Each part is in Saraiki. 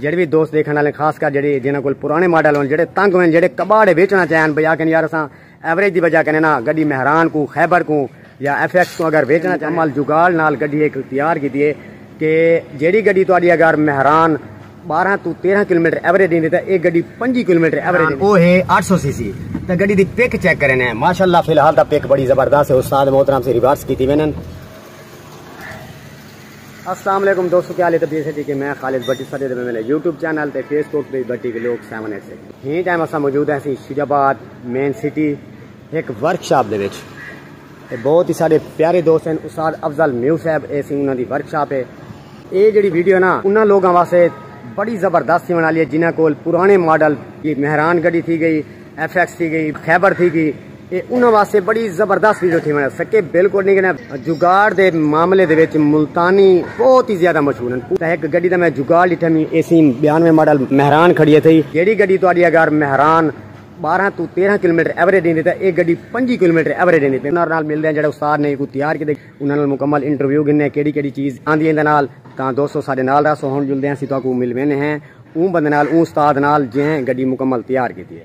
جیڑھے وی دوست ڈیکھن والے خاص کر جیڑھے جنہاں کول پرانے ماڈل ہن جیڑھے تنگ ہوئن جیڑھے کباڑے ویچنا چاہن بھئی آکھن یار اساں ایوریج دی وجہ کنے نا گڈی مہران کو خیبر کو یا ایف ایکس کو اگر ویچنا چاہن مال جگاڑ نال گڈی ایک تیار کیتی ہے کہ جیڑھی گڈی تہاڈی اگر مہران 12 تو 13 کلومیٹر ایوریج دیندی تے اے گڈی 5 کلومیٹر ایوریج دیندی او ہے 800 سی سی تے گڈی دی پک چیک کرنے ماشاءاللہ فی الحال دا پک بڑی زبردست ہے استاد محترم سے ریورس کیتی وینن السلام علیکم دوستو کیا حالی تبدیل سے جی کہ میں خالد بٹی سر دے میں نے یوٹیوب چینل تے فیس بک بھی بٹی کے لوگ سیون ایٹ سکس ہی ٹائم اسا موجود ہیں سی شیج آباد مین سٹی ایک ورک شاپ دے وچ اے بہت ہی سارے پیارے دوست ہیں استاد افضل میو صاحب اے سی انہاں دی ورک شاپ ہے اے جڑی ویڈیو نا انہاں لوگاں واسطے بڑی زبردست تھیون والی ہے جنہاں کول پرانے ماڈل مہران گڈی تھی گئی ایف ایکس تھی گئی خیبر تھی گئی اے انہاں واسطے بڑی زبردست ویڈیو تھی میں سکے بالکل نہیں کہنا جگاڑ دے معاملے دے وچ ملتانی بہت ہی زیادہ مشہور ہیں پوتا ایک گڈی دا میں جگاڑ لٹھا میں اے سی بیانوے ماڈل مہران کھڑی ہے تھی جیڑی گڈی تو آڈی اگر مہران بارہ تو تیرہ کلومیٹر ایوریج دیں دیتا ہے ایک گڈی پنجی کلومیٹر ایوریج دیں دیتا ہے انہاں نال مل دیں جڑے استاد نے کو تیار کی دے انہاں نال مکمل انٹرویو گھنے کیڑی کیڑی چیز آندھی اندھا نال تاں دوستو سارے نال رہا سو ہون جلدے ہیں سی تو آکو مل وینے ہیں اون بندے نال اون استاد نال جہیں گڈی مکمل تیار کی دیئے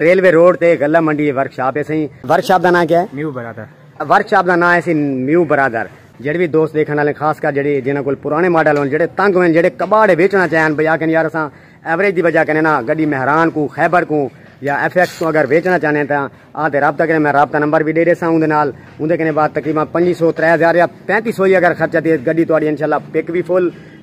ریلوے روڈ تے غلہ منڈی ورک شاپ ہیسی۔ ورک شاپ دا ناں کیا ہے؟ میو برادر۔ ورک شاپ دا ناں ہیسی میو برادر۔ جیڑھے وی دوست ڈیکھن آلے خاص کر جیڑھے جنہاں کول پرانے ماڈل ہون جیڑھے تنگ ہوئن جیڑھے کباڑ ویچنا چاہن بھئی آکھن یار اساں ایوریج دی وجہ کنے نا گڈی مہران کوں خیبر کوں یا ایف ایکس کوں اگر ویچنا چاہنے ہیں تاں آں تے رابطہ کریں میں رابطہ نمبر وی ڈے ڈیساں اوندے نال اوندے کنے بعد تقریبا پنجی سو ترے ہزار یا پینتی سو ہی اگر خرچہ تھیے گڈی تہاڈی انشاءاللہ پک وی فل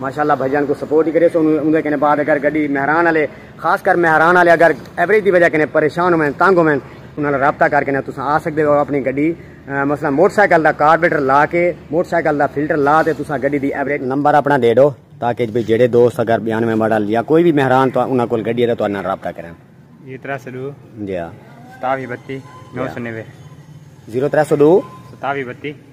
ماشاءاللہ بھائی جان کو سپورٹ ہی کریسو اوندے کنے بعد اگر گڈی مہران والے خاص کر مہران والے اگر ایوریج دی وجہ کنے پریشان ہوئیں تنگ ہوئیں انہاں نال رابطہ کر کے تساں آ سکدے ہو اپنی گڈی مثلا موٹر سائیکل دا کاربیٹر لا کے موٹر سائیکل دا فلٹر لا تے تساں گڈی دی ایوریج نمبر اپنا دے ڈو تاکہ بھی جڑے دوست اگر بیان میں ماڈل یا کوئی بھی مہران تو انہاں کول گڈی ہے تو انہاں رابطہ کریں جی 302 جی ہاں 27 32 990 0302 27 32